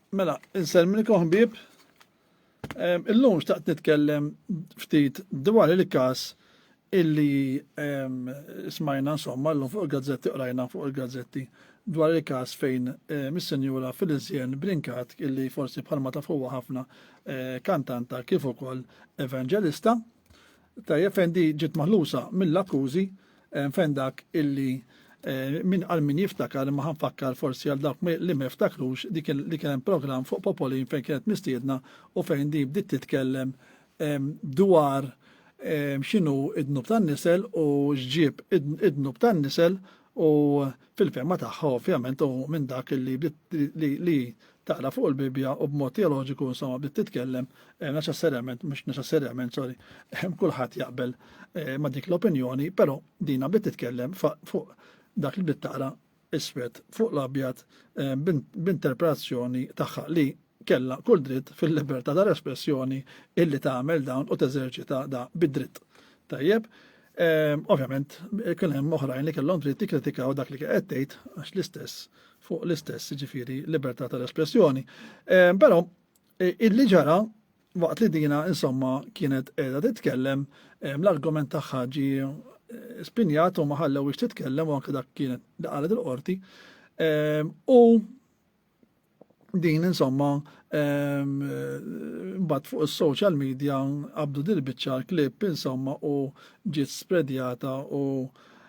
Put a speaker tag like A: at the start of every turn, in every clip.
A: Mela, insellmilkom ħbieb. Illum xtaqt nitkellem ftit dwar il-każ illi smajna insomma l-lum fuq il-gazzetti qrajna fuq il-gazzetti dwar il-każ fejn mis-senjura Filizjen Brinkat illi forsi bħalma tafuwa ħafna eh, kantanta kif ukoll evangelista. Tajjeb fejn di ġiet maħlusa mill-akkużi eh, fejn dak illi eh, min għal min jiftakar imma ħanfakkar forsi għal dawk li ma jiftakrux li kien hemm programm fuq Popolin fejn kienet mistiedna u fejn di bdiet titkellem ehm, dwar ehm, x'inhu id-dnub tan-nisel u x'ġieb id-dnub tan-nisel U fil-fehma tagħha ovvjament u minn dak li li taqra fuq il-Bibbja u b'mod teoloġiku insomma bdiet titkellem eh, neċessarjament mhux neċessarjament sorry eh, kulħadd jaqbel eh, ma' dik l-opinjoni, però dina bdiet titkellem fuq dak li bdiet taqra iswed fuq l-abjad b'interpretazzjoni tagħha li kellha kull dritt fil-libertà ta' espressjoni illi tagħmel dawn u teżerċita da bid-dritt. Tajjeb, ehm, ovvjament kien hemm oħrajn li kellhom dritt jikkritikaw dak li qed tgħid għax l-istess fuq l-istess ġifiri libertà tal-espressjoni. Ehm, però e, illi ġara waqt li dina insomma kienet qiegħda titkellem ehm, l-argument tagħha ġi e, spinjat u ma ħallew titkellem u anke dak kienet li qalet il-qorti. U Din insomma mbagħad fuq is-social media qabdu dil-biċċa l-klip insomma u ġiet spredjata u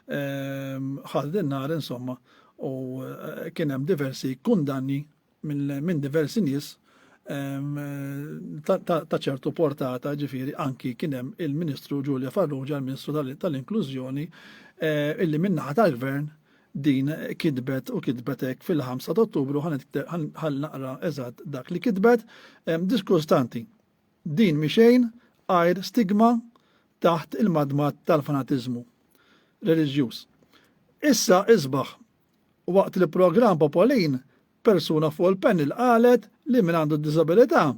A: ħadd in-nar insomma u eh, kien hemm diversi kundanni minn diversi nies ta' ċertu portata ġifiri anki kienem il-Ministru Ġulja Farrugia, il-Ministru tal-Inklużjoni, eh, illi minnaħa tal-Gvern din kitbet u kitbet hekk fil-5 ta' Ottubru ħal naqra eżatt dak li kitbet. Diskustanti, din miexejn għajr stigma taħt il-madmat tal-fanatiżmu reliġjuż. Issa isbaħ waqt li programm Popolin persuna fuq il-panel qalet li min għandu disabilità,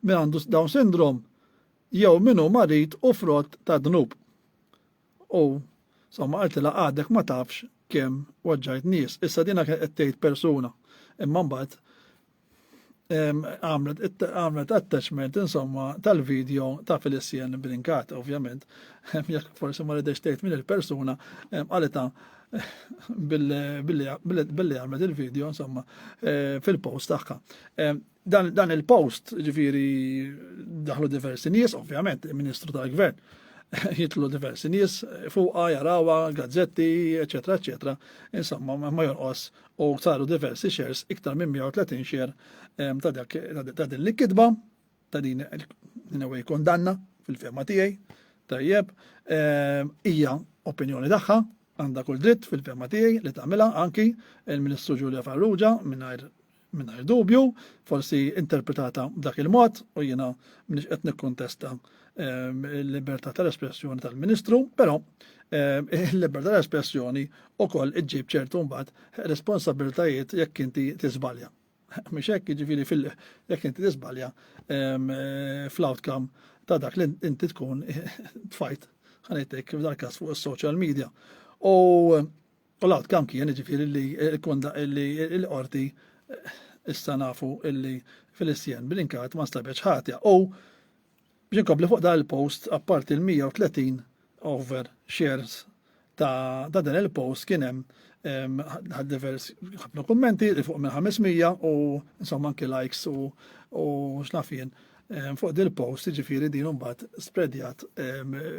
A: min għandu Down syndrome, jew minu marit u frott ta' dnub. U somma qaltilha għadek ma tafx kemm waġġajt nies. Issa dina kien qed tgħid persuna. Imma mbagħad għamlet attachment insomma tal-video ta' Felicien Brinkat, ovvjament, jekk forsi ma ridex tgħid minn il-persuna għalita billi għamlet il-video insomma eh, fil-post tagħha. Dan, dan il-post, ġifiri, daħlu diversi nies, ovvjament, il-Ministru tal-Gvern, jitlu diversi nies, fuqa, jarawa, gazzetti, eccetera, eccetera. Insomma, ma jonqos u saru diversi shares, iktar minn 130 share ta' dak ta' din l-kitba, ta' din il-way kondanna fil-fema tiegħi, tajjeb, hija opinjoni tagħha, għandha kull dritt fil-fema tiegħi li tagħmilha anki il-Ministru Ġulja Farrugia mingħajr Mingħajr dubju, forsi interpretata b'dak il-mod u jiena m'iniex qed nikkuntesta ehm, l-libertà tal-espressjoni tal-Ministru, però ehm, il-libertà tal-espressjoni wkoll iġġib ċertu mbagħad responsabilitajiet jekk inti tiżbalja. Mhux hekk jiġifieri fil jekk inti tiżbalja ehm, eh, fl-outcome ta' dak li inti tkun tfajt ħanejtek f'dal każ fuq is-social media. U U l-outcome kien jiġifieri li l-qorti issa nafu illi Filistien Brinkat ma nstabetx ħatja. U biex inkompli fuq dan il-post, apparti l-130 over shares ta' dan il-post kien hemm ħad divers ħafna kummenti li fuq minn 500 u insomma anki likes u u xnafien fuq dil post ġifiri din mbagħad spreadjat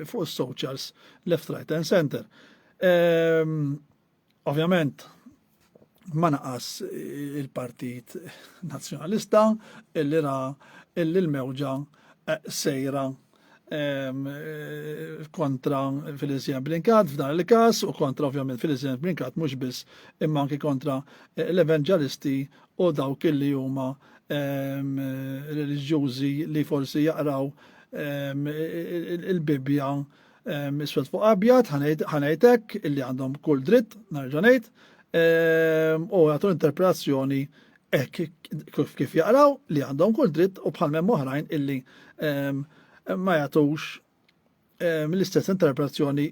A: fuq is-socials left right and center. Ovvjament, ma naqas il-Partit Nazzjonalista illi ra illi l-mewġa eh, sejra ehm, eh, kontra Filizien Brinkat f'dan il-kas u kontra ovvjament Filizien Brinkat mhux biss imma anki kontra eh, l-evanġelisti u dawk illi huma ehm, reliġjużi li forsi jaqraw ehm, il-Bibbja Ehm, iswed fuq abjad, ħanajtek illi għandhom kull dritt, narġanajt, ehm, u għatu interpretazzjoni ek kif jaqraw li għandhom kull dritt u bħal memm oħrajn illi ehm, ma jagħtux l-istess interpretazzjoni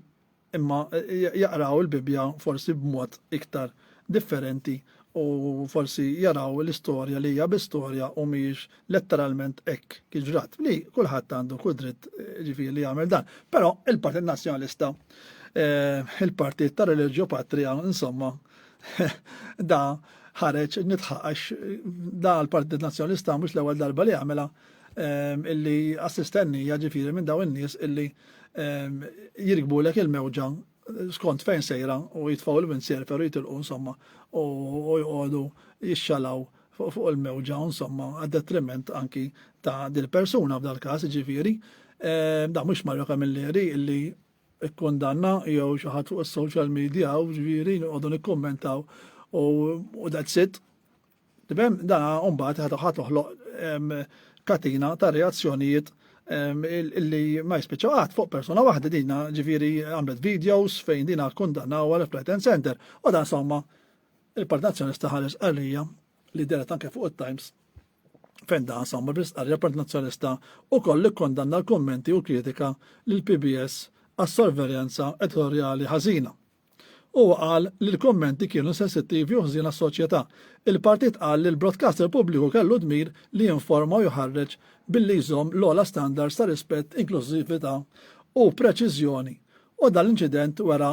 A: imma jaqraw il-Bibja forsi b'mod iktar differenti u forsi jaraw l-istorja li hija biss storja u mhijiex letteralment hekk kif ġrat. Li kulħadd għandu kull dritt ġifieri li jagħmel dan. Però il-Partit Nazzjonalista, eh, il-Partit ta' Religio Patria, insomma, da ħareġ nitħaqax da l-Partit Nazzjonalista mhux l-ewwel darba li għamela eh, illi assistennija ġifieri minn daw in-nies illi eh, jirkbulek il-mewġa skont fejn sejra u jitfaw il-minsier per jitilqu insomma u jgħodu jixxalaw fuq il-mewġa insomma għad detriment anki ta' dil-persuna f'dal każ ġifieri eh, da mhux Mario Camilleri illi ikkundanna jew xi ħadd fuq is-social media u ġifieri noqogħdu nikkummentaw u that's it Tifhem? Dana mbagħad ħa toħloq katina ta' reazzjonijiet illi ma jispiċċaw qatt fuq persuna waħda dina ġifieri għamlet videos fejn dina kundannaw għal Flight Center u dan somma il-Partit Nazzjonalista ħares qarrija li deret anke fuq it-Times fejn dan somma bl-istqarrija l-Partit Nazzjonalista ukoll ikkondanna l-kummenti u l-kritika lil PBS għas-sorveljanza editorjali ħażina. Huwa qal li l-kummenti kienu sensittivi u ħżiena għas-soċjetà. Il-Partit qal li l-broadcaster pubbliku kellu d-dmir li jinforma u jħarreġ billi jżomm l-ogħla standards ta' rispett, inklużività u preċiżjoni u dan l-inċident wera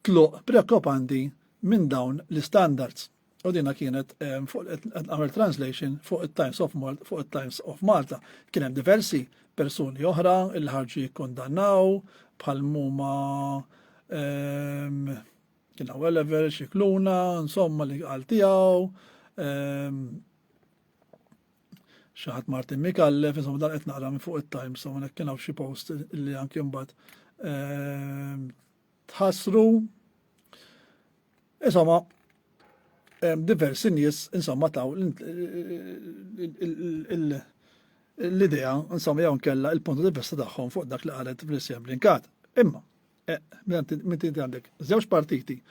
A: tluq preokkupanti minn dawn l-istandards. U dina kienet għamil translation fuq il-Times of Malta, fuq il-Times of Malta. Kien hemm diversi persuni oħra il ħarġu jikkondannaw bħal muma ehm, kien għu Oliver, xikluna, insomma li għal tiegħu. Ehm, xaħat Martin Mikallef, insomma dan qed naqra minn fuq il-Times, u kien hawn xi post li anke mbagħad ehm, tħassru. Insomma, diversi nies insomma taw l-idea insomma jew kella il-punt di vista tagħhom fuq dak li qalet Vlisja Blinkat. Imma, eh, minn tinti għandek żewġ partiti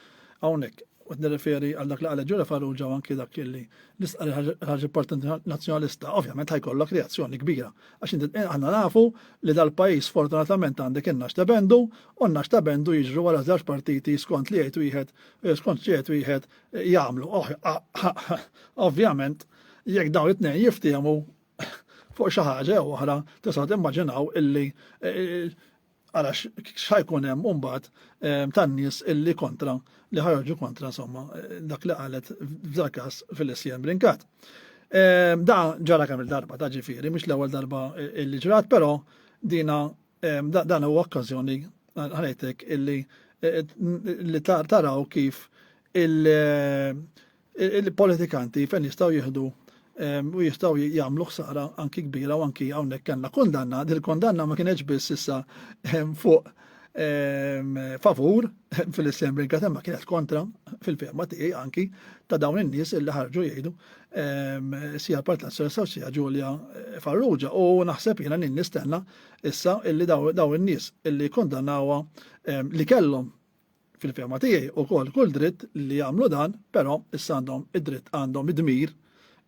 A: hawnhekk u t-nirreferi għal dak li għalli ġura farruġa anki dak li l-istqari ħarġ parti nazjonalista, ovvjament ħajkollok reazzjoni kbira Għax inti eh, aħna nafu li dal-pajjiż sfortunatament għandek in-nax ta' bendu u n-nax ta' bendu jiġru wara żewġ partiti skont li jgħid wieħed eh, skont li jgħid wieħed eh, jagħmlu. Oh, ah, ah, ah. Ovvjament, jekk dawn it-tnejn jiftiehmu fuq xi ħaġa jew oħra, tista' timmaġinaw illi Għalax x'ħajkun hemm mbagħad ehm, tan-nies illi kontra li ħarġu kontra somma eh, dak li qalet f'dak każ fil-isjem brinkat. Ehm, da ġara kemm il-darba ta' ġifieri, mhux l-ewwel darba eh, illi ġrat, però dina ehm, dan huwa okkażjoni ħanejtek illi eh, li taraw kif il- il-politikanti fejn jistgħu jieħdu ehm, u jistgħu jagħmlu ħsara anki kbira u anki hawnhekk kellna kundanna, dil-kundanna ma kienx biss issa ehm, fuq ehm, favur fil-Islam Rinka temma kienet kontra fil-ferma tiegħi anki ta' dawn in-nies illi ħarġu jgħidu sija Partit Nazzjonalista u sija Ġulja eh, Farrugia u naħseb jiena nistenna issa illi dawn in-nies illi kondannawha li kellhom fil-fema tiegħi ukoll kull dritt li jagħmlu dan, però issa għandhom id-dritt għandhom id-dmir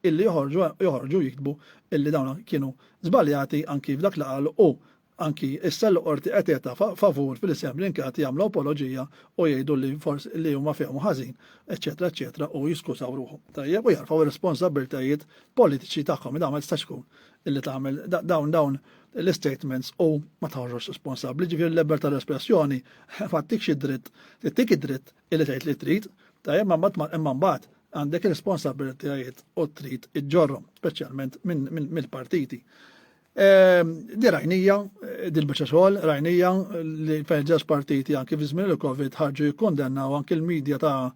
A: illi joħorġu joħorġu jiktbu illi dawn kienu żbaljati anki f'dak li qalu u anki issa l qorti qed jeta favur fil-isem l-inkjati jagħmlu apoloġija u jgħidu li forsi li huma fehmu ħażin, eċċetera, eċċetera, u jiskużaw ruħhom. Tajjeb u jarfaw ir-responsabbiltajiet politiċi tagħhom, dan ma jistax ikun. illi tagħmel dawn dawn l-statements u ma tħarġux responsabbli, ġifier l-eber tal-espressjoni ma tikx id-dritt, tik id-dritt illi tgħid li trid, tajjeb ma mbagħad imma mbagħad għandek responsabilitajiet u trid iġġorhom, speċjalment mill-partiti. Ehm, di rajnija, eh, di l-bicċa xogħol, rajnija li fejn ġeż partiti anki fi żmien il-Covid ħarġu jikkondennaw anki l-medja ta'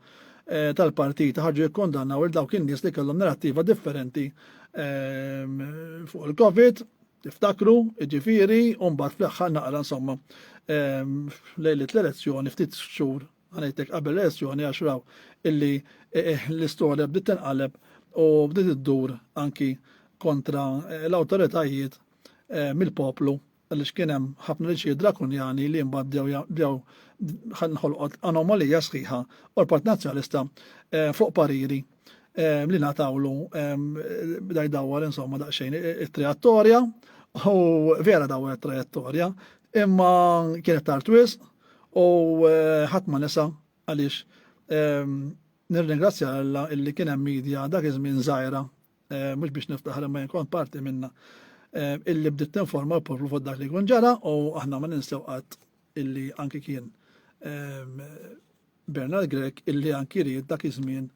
A: eh, tal-partiti ħarġu jikkondannaw il dawk in-nies li kellhom narrattiva differenti ehm, fuq il-Covid, tiftakru, ġifiri, u mbagħad fl-aħħar naqra insomma ehm, lejlet l-elezzjoni ftit xhur għanajtek qabel l-elezzjoni għax raw illi eh, eh, l-istorja bdiet tinqaleb u bdiet iddur anki kontra l-awtoritajiet mill-poplu għaliex kien hemm ħafna liġijiet drakunjani li mbagħad bdew bdew nħolqot anomalija sħiħa u l-Partit Nazzjonalista fuq pariri li ngħatawlu bda jdawwar insomma daqsxejn it-trajettorja u vera dawwar it-trajettorja imma kienet tard wisq u ħadd ma nisa għaliex nirringrazzja Alla illi kien hemm media dak iż-żmien żgħira Eh, mux biex niftaħar ma jinkon parti minna eh, illi bditt informa poplu fuq dak li kun ġara u aħna ma ninsew qatt illi anki kien eh, Bernard Grek illi anki ried dak iż-żmien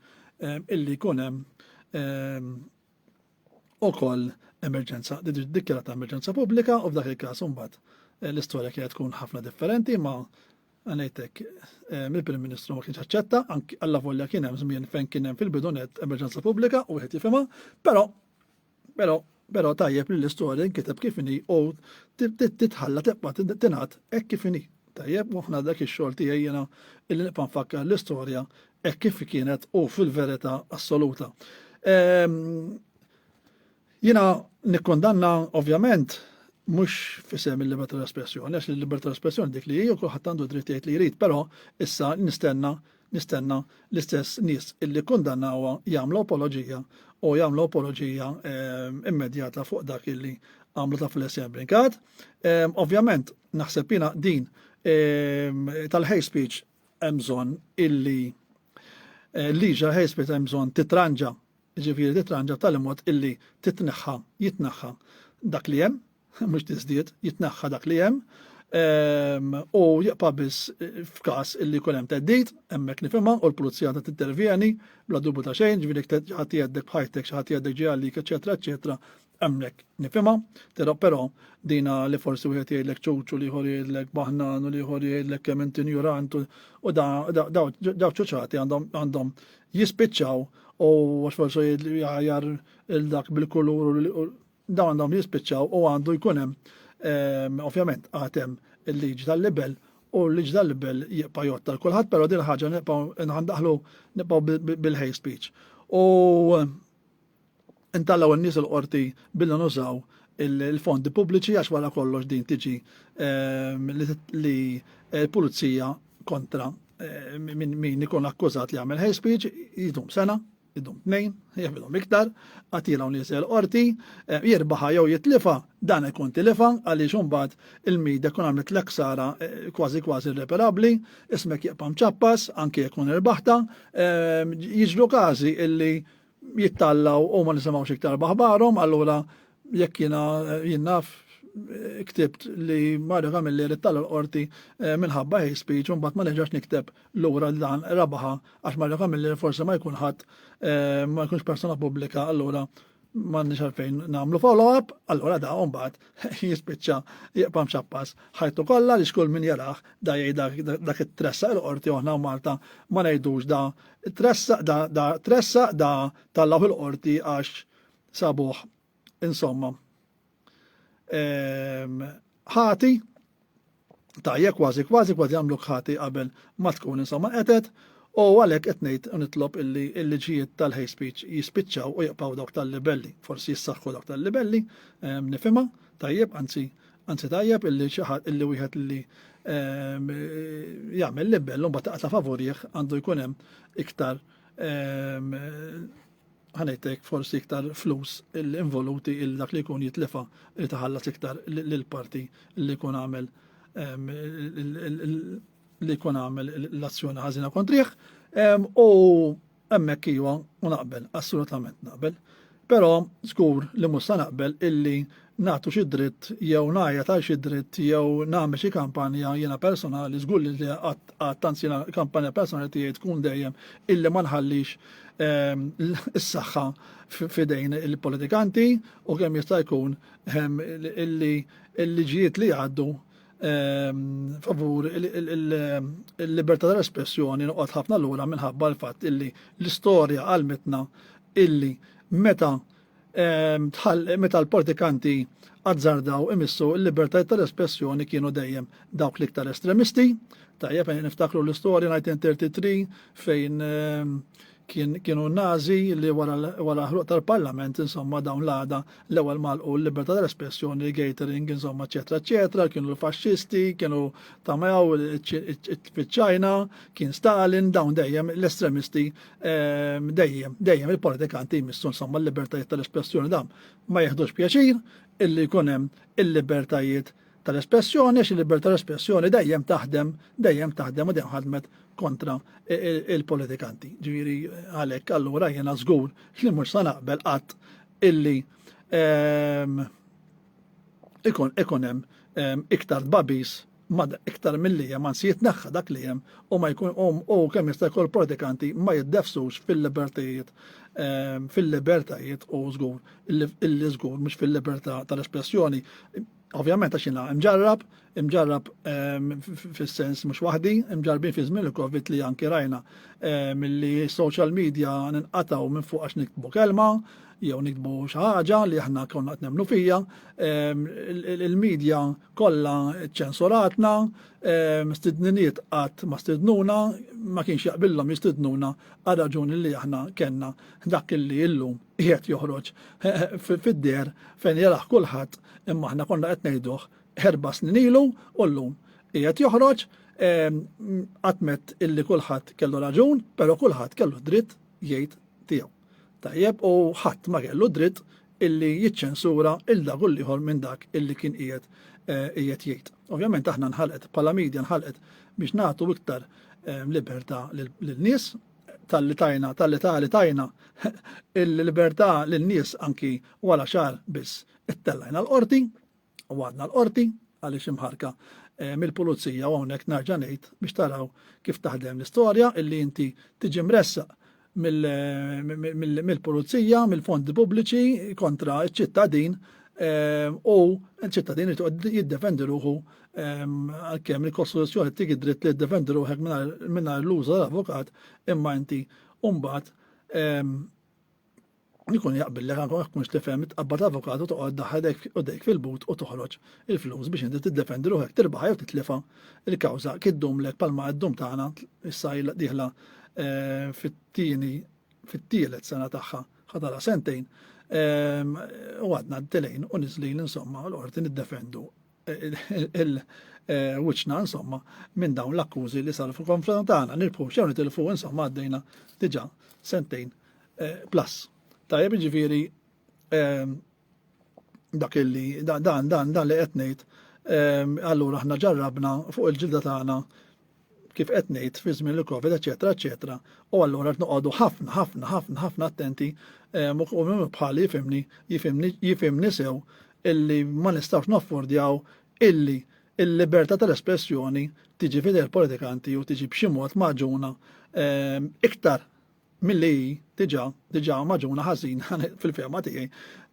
A: illi kun hemm ukoll emerġenza, dikjarata emerġenza pubblika u f'dak il-każ imbagħad l-istorja kienet tkun ħafna differenti ma Għanajtek, eh, mill-Prim Ministru ma kienx aċċetta, anki alla volja kien hemm żmien fejn kien hemm fil-bidunet emerġenza pubblika u wieħed jifhimha, però però però tajjeb li l-istorja nkiteb kif inhi u titħalla tibqa' tingħad hekk kif inhi. Tajjeb, u ħna dak ix-xogħol tiegħi jiena illi nibqa' nfakkar l-istorja hekk kif kienet u fil-verità assoluta. Ehm, Jiena nikkundanna, ovvjament, mhux f'isem il-libertà tal-espressjoni, għax il-libertà tal-espressjoni dik li hi u kulħadd għandu dritt jgħid li jrid, però issa nistenna nistenna l-istess nies illi kkundannawha jagħmlu apoloġija u jagħmlu apoloġija ehm, immedjata fuq dak illi għamlu ta' fil-essem brinkat. Ehm, ovvjament, naħseb jina din ehm, tal-hate speech emżon illi eh, liġa hate speech emżon titranġa jiġifieri titranġa b'tali mod illi titneħħa, jitneħħa dak li hemm, mhux tiżdied, jitneħħa dak li hemm, ehm, u jibqa' biss f'każ illi jkun hemm teddid, hemmhekk nifhimha u l-pulizija għandha tintervjeni bla dubju ta' xejn, ġifieri ħadd jgħeddek b'ħajtek, xi ħadd jgħeddek ġie għalik, eċetera, eċetera, Hemmhekk nifhimha, tera però dina li forsi wieħed jgħidlek ċuċu li ieħor jgħidlek baħnan u li ieħor jgħidlek kemm int injurant u daw ċuċati għandhom jispiċċaw u għax forsi jgħajar il-dak bil-kulur u daw għandhom jispiċċaw u għandu jkun hemm ehm, ovvjament għatem il-liġi tal-libel u l liġi tal-libel jibqa' jott tal kulħadd però din ħaġa nibqgħu nħandaħlu nibqgħu bil-hate speech. U Intgħallgħu n-nies il-qorti billi nużaw il-fondi pubbliċi għax wara kollox din tiġi ehm, li l-pulizija kontra ehm, min ikun akkużat li għamel hate speech jidum sena, jidum tnejn, jgħamilhom iktar, għatila u nies il-qorti, ehm, jirbaħa jew jitlifa, dan ikun tilifa għaliex imbagħad il-mida kun għamlet l-eksara eh, kważi kważi irreparabli, ismek jibqa' mċappas, anke jekun irbaħta, jiġru każi illi Jittallaw u ma nisimgħux iktar baħbarhom, allura jekk jiena eh, jinnaf eh, ktibt li Mario Camilli rittalla l-qorti eh, minħabba hate speech un bat ma neġax nikteb l-ura dan rabaħa għax Mario Camilli forse ma jkun ħadd ma jkunx persona pubblika allura ma nix għalfejn namlu follow-up allura da un bat jispiċċa jibqa' mxappas ħajtu kollha li xkull min jaraħ da jgħid dak it-tressaq il-qorti oħna u Malta ma ngħidux da tressaq da da tressaq da tallaw il-qorti għax sabuħ insomma. Ehm, ħati tajjeb kważi kważi kważi għamluk ħati qabel ma tkun insomma qetet u għalhekk qed ngħid u nitlob illi l-liġijiet tal-hate speech jispiċċaw u jibqgħu dawk tal-libelli. Forsi jissaħħu dawk tal-libelli, ehm, nifhimha, tajjeb, anzi anzi tajjeb illi xi ħadd illi wieħed illi ehm, jagħmel libell u mbagħad taqta' favurih għandu jkun hemm iktar ehm, ħanejtek forsi iktar flus involuti il dak li jkun jitlefa li taħallas iktar l-parti li jkun għamel li jkun għamel l-azzjoni ħażina kontriħ u hemmhekk iwa u naqbel, assolutament naqbel. Però żgur li musa naqbel illi nagħtu xi dritt jew ngħajjat għal xi dritt jew nagħmel xi kampanja jiena personali żgur li qatt anzi jiena kampanja personali tiegħi tkun dejjem illi ma nħallix ehm, is-saħħa f'idejn il-politikanti u kemm jista' jkun ehm, illi l-liġijiet li għaddu ehm, favur il-libertà tal-espressjoni noqgħod ħafna lura minħabba l-fatt illi l-istorja għalmitna illi meta meta l-politikanti azzardaw imissu l-libertajiet tal-espressjoni kienu dejjem dawk l-iktar estremisti. Tajjeb, eh, niftakru l-istorja 1933 fejn ehm, kienu nazi li wara ħruq tal-parlament, insomma, dawn l-għada l-ewel malqu l-libertà tal-espressjoni, gatering, insomma, ċetra, ċetra, kienu l-fasċisti, kienu tamaw il-ċajna, kien Stalin, dawn dejjem l-estremisti Ehm, dejjem, dejjem il-politikanti jmissu insomma l-libertajiet tal-espressjoni dam ma jeħdux pjaċir illi jkun hemm il-libertajiet tal-espressjoni, xi libertà tal-espressjoni dejjem taħdem, dejjem taħdem u dejjem ħadmet kontra e, e, il-politikanti. Ġiri għalhekk allura jiena żgur li mhux sa naqbel qatt illi ehm, ikun ikun hemm ehm, iktar babis ma iktar milli hemm anzi jitneħħa dak li hemm u ma jkun u kemm jista' jkun pratikanti ma jiddefsux fil-libertajiet ehm, fil-libertajiet u żgur illi żgur mhux fil-libertà tal-espressjoni. Ovvjament għax jiena imġarrab, imġarrab ehm, fis-sens mhux waħdi, imġarrabin fi żmien il-Covid li anki rajna ehm, milli social media ninqataw minn fuq għax niktbu kelma, jew nikbu xi ħaġa li aħna konna qed nemmnu fija, il-medja Kollha ċċensuratna, mistidniniet qatt ma stidnuna, ma kienx jaqbillhom jistidnuna għar-raġuni li aħna kellna dak li illum qiegħed joħroġ fid-deher fejn jarah kulħadd imma aħna konna qed ngħiduh erba' snin ilu u llum qiegħed joħroġ qatt mett illi kulħadd kellu raġun, però kulħadd kellu dritt jgħid tiegħu. Tajjeb, u ħadd ma kellu d-dritt illi jiċċensura 'l dak u 'l ieħor minn dak illi kien qiegħed qiegħed jgħid. Ovvjament aħna nħalqet, bħala media nħalqet biex nagħtu iktar libertà lin-nies, talli tajna, talli ta' li tajna il-libertà lin-nies anki wara xahar biss ittellajna l-qorti, u għadna l-qorti għaliex imħarka eh, mill-pulizija u hawnhekk narġa' ngħid biex taraw kif taħdem l-istorja illi inti tiġi mressaq mill-pulizija, mill-fondi pubbliċi kontra ċ-ċittadin ehm, u ċittadin jiddefendi ruħu ehm, għalkemm il-Kostituzzjoni tik id-dritt li jiddefendi ruħek mingħajr l-użu tal-avukat imma inti mbagħad ehm, Ikun jaqbil lek anke ma tkunx tifhem tqabbad avukat u toqgħod daħħal dejk fil-but u toħroġ il-flus biex inti tiddefendi ruħek tirbaħha jew titlifha l-kawża kif ddumlek bħalma qed ddum tagħna issa ilha dieħla eh, fit-tieni fit-tielet sena tagħha ħadala sentejn ehm, u għadna d-telejn u niżlin insomma l-qorti niddefendu il-wiċċna insomma minn dawn l-akkużi li saru fil-konfront tagħna nirbħu xew nitilfu insomma għaddejna diġà sentejn eh, plus. Tajjeb jiġifieri ehm, dak illi dan dan dan li qed ngħid ehm, allura aħna ġarrabna fuq il-ġilda tagħna kif qed ngħid fi żmien il-Covid, eċetera, eċetera, u allura qed noqogħdu ħafna, ħafna, ħafna, ħafna attenti ehm, u minn bħali jifimni, jifimni, jifimni sew illi ma nistgħux naffordjaw illi il-libertà tal-espressjoni tiġi fidel politikanti u tiġi b'xi mod maġuna ehm, iktar milli hi diġà diġà magħġuna ħażin fil-fehma tiegħi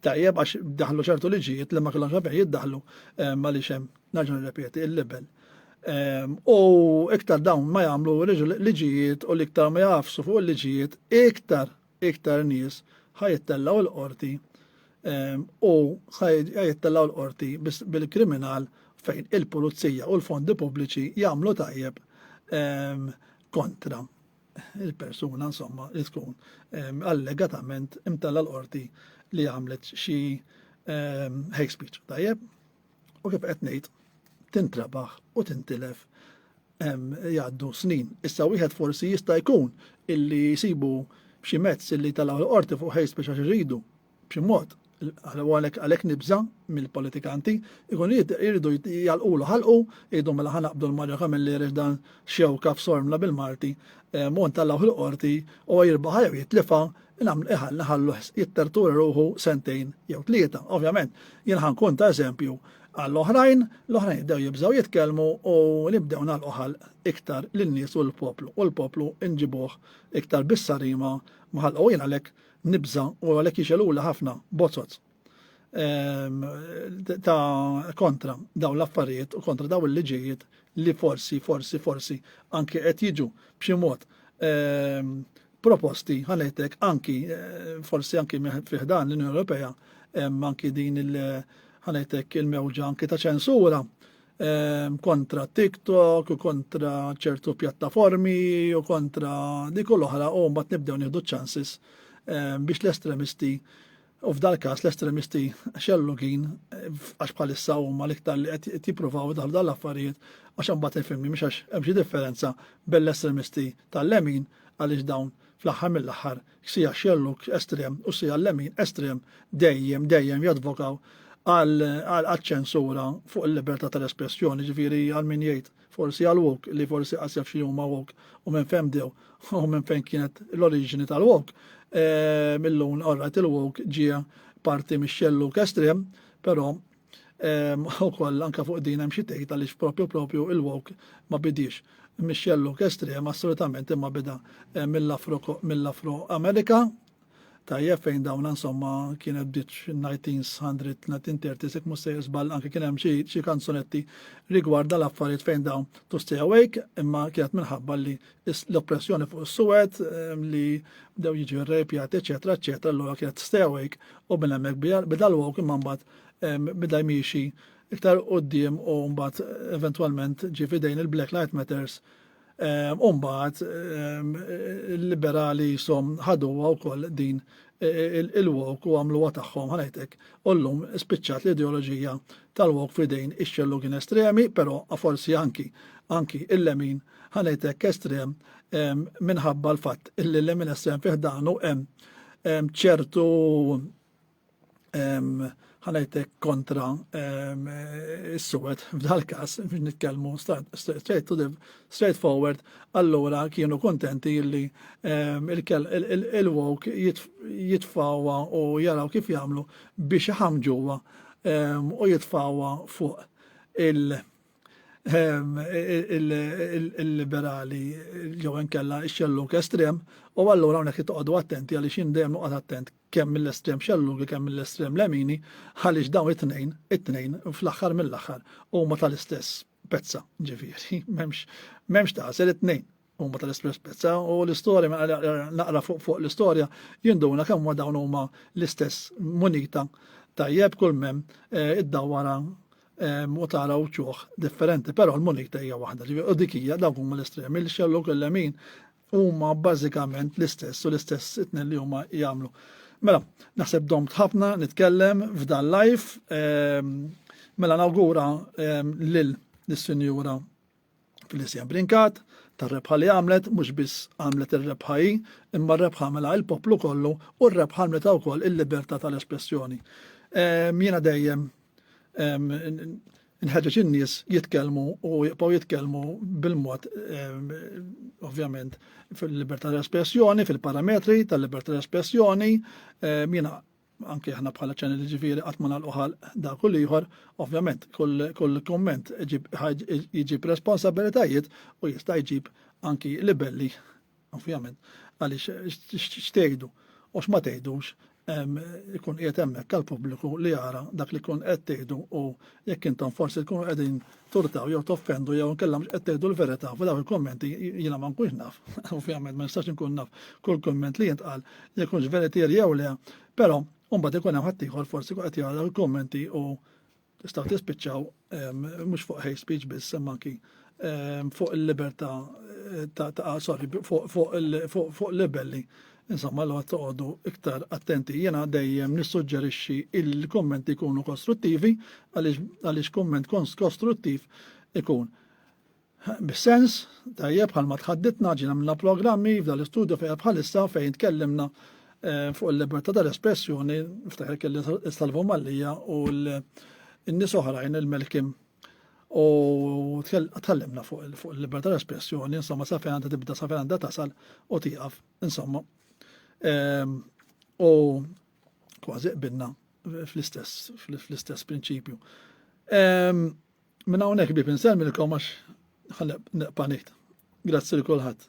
A: tajjeb għax daħlu ċertu liġijiet li ma kellhomx għalfejn jiddaħlu ehm, għaliex hemm nerġa' nirrepeti il-libel. Ehm, u iktar dawn ma jagħmlu liġijiet u l-iktar ma jafsu fuq il-liġijiet iktar iktar nies ħajittellgħu l-qorti ehm, u ħajittellgħu l-qorti bil-kriminal fejn il-pulizija u l-fondi pubbliċi jagħmlu tajjeb kontra il-persuna insomma li tkun ehm, allegatament imtella l-qorti li għamlet xi ehm, hate speech. Tajjeb, u kif qed ngħid tintrabaħ u tintilef ehm, jgħaddu snin. Issa wieħed forsi jista' jkun illi jsibu b'xi mezz illi tal-qorti fuq hate speech għax iridu B'xi mod, u għalhekk għalhekk nibża' mill-politikanti, ikunu jridu jgħalqulu ħalqu, jgħidu mela ħa naqbdu lil Mario Camilleri għaliex dan xewka f'sormla bil-Malti, u ntellgħuh il-Qorti, huwa jirbaħha jew jitlifha, nħalluh jittertura ruħu sentejn jew tlieta. Ovvjament, jien ħa nkun ta' eżempju għall-oħrajn, l-oħrajn jibdew jibżgħu jitkellmu u nibdew nagħlqu ħalq iktar lin-nies u lill-poplu, u l-poplu nġibuh iktar bis-sarima mħallqa u jien għalhekk nibża u għalhekk jixelula ħafna bozzot ehm, ta' kontra dawn l-affarijiet u kontra dawn il-liġijiet li forsi, forsi, forsi anki qed jiġu b'xi mod ehm, proposti ħanetek anki eh, forsi anki fiħdan l-Unjoni Ewropea anki din il- ħanetek il-mewġa anki ta' ċensura ehm, kontra TikTok, kontra ċertu pjattaformi, u kontra di kull oħra, u mbagħad nibdew nieħdu ċansis ehm, biex l-estremisti U f'dal każ l-estremisti xellugin għax bħalissa huma l-iktar li qed jippruvaw daħlu dal-affarijiet għax imbagħad il-filmi mhux għax hemm xi differenza bell-estremisti tal-lemin għaliex dawn fl-aħħar mill-aħħar Xija xellug estrem u xija lemin estrem dejjem, dejjem jadvokaw għaċ-ċensura fuq il-libertà tal-espressjoni, ġifieri għal min jgħid forsi għal woke li forsi qas jaf xi huma woke u minn fejn bdew u minn fejn kienet l-oriġini tal-woke. Ehm, illum orrajt il-woke ġie parti mix-xellug estrem, però U koll anka fuq din hemm xi tgħid għaliex propju propju il-wok ma bidix. Michelle Luke estrem assolutament imma bida eh, mill-Afro-Amerika tajjeb fejn dawn insomma kienet bdiet 1900, 1930 sek mussejr żball anke kien hemm xi kanzunetti rigward dal-affarijiet fejn dawn to stay awake imma kienet minħabba li l-oppressjoni fuq is-suwed ehm, li bdew jiġu rrepjat eċetera eċetera allura kienet stay awake u minn hemmhekk bidal wok imma mbagħad bda jmiexi iktar qoddim u mbagħad eventwalment ġie fidejn il-Black Light Matters u mbagħad il-liberali jisom ħaduha wkoll din il-wok u għamluha tagħhom ħanajtek u llum spiċċat l-ideoloġija tal-wok fidejn ix-xellugin estremi, però forsi anki anki il-lemin ħanajtek estrem minħabba l-fatt illi l-lemin estrem fiħdanu hemm ċertu ħanajtek kontra s-suwet f'dal kas biex nitkellmu straight to the straight forward allura kienu kontenti illi il-wok jitfawa u jaraw kif jagħmlu biex ħamġuwa u jitfawa fuq il- il-liberali jew inkella x-xelluk estrem u allura hawnhekk toqgħodu attenti għaliex jien dejjem noqgħod attent kemm mill-estrem xellugi kemm mill-estrem lemini, għaliex dawn it-tnejn, it-tnejn fl-aħħar mill-aħħar huma tal-istess pezza, ġifieri, m'hemmx m'hemmx tagħsel it-tnejn huma tal-istess pezza u l-istorja mela naqra fuq fuq l-istorja jinduna kemm ma dawn huma l-istess munita tajjeb kull mem eh, id-dawwara eh, u tara uċuħ differenti, però l-munita hija waħda, ġifieri u dik hija dawk huma l-estremi, l-xelluk il-lemin Huma bażikament l-istess u l-istess itnen li huma jagħmlu. Mela, naħseb dom tħafna nitkellem f'dan live. Ehm, mela nawgura ehm, lil l-Sinjura Felicia Brinkat tar-rebħa li għamlet, mhux biss għamlet ir-rebħa hi, imma r-rebħa għamela il-poplu kollu u r-rebħa għamlet wkoll il-libertà tal-espressjoni. Ehm, jiena dejjem Inħeġġeġ in-nies jitkellmu u jibqgħu jitkellmu bil-mod ovvjament fil-libertà tal-espressjoni, fil-parametri tal-libertà tal-espressjoni, jiena anke aħna bħala ċanel ġifieri qatt ma nagħlqu ħalq dak u ieħor, ovvjament kull kumment jiġib responsabilitajiet u jista' jġib anki libelli Ovvjament, għaliex x'tgħidu u x'ma tgħidux ikun qiegħed hemmhekk għall-pubbliku li jara dak li jkun qed tgħidu u jekk intom forsi tkunu qegħdin turtaw jew toffendu jew inkella mhux qed tgħidu l-verità f'dawn il-kummenti jiena ma nkunx naf. Ovvjament ma nistax inkun naf kull kumment li jintqal jekk hux veritier jew le, però mbagħad ikun hemm ħaddieħor forsi qed jara l-kummenti u Tistgħu tispiċċaw mhux fuq hate speech biss imma anki fuq il-libertà ta' sorry fuq libelli. Insomma, l toqgħodu iktar attenti. Jena dejjem nissuġġerixxi il-kommenti jkunu kostruttivi għaliex komment kostruttiv ikun Bis-sens, tajjeb bħalma tħadditna ġiena minna programmi f'dan l-istudju fejn bħalissa fejn tkellimna eh, fuq il-libertà tal-espressjoni, ftaħir kelli Salvo Mallija u l-nies oħrajn il-Melkim. U tkellimna fuq il-libertà tal-espressjoni, insomma, sa fejn għandha tibda, sa fejn għandha tasal u tieqaf, insomma. Ehm, u kważi qbinna fl-istess, fl-istess prinċipju. Ehm, Minn hawnhekk ħbieb insellmilkom għax ħaleb neqpa' ngħid. Grazzi lil kulħadd.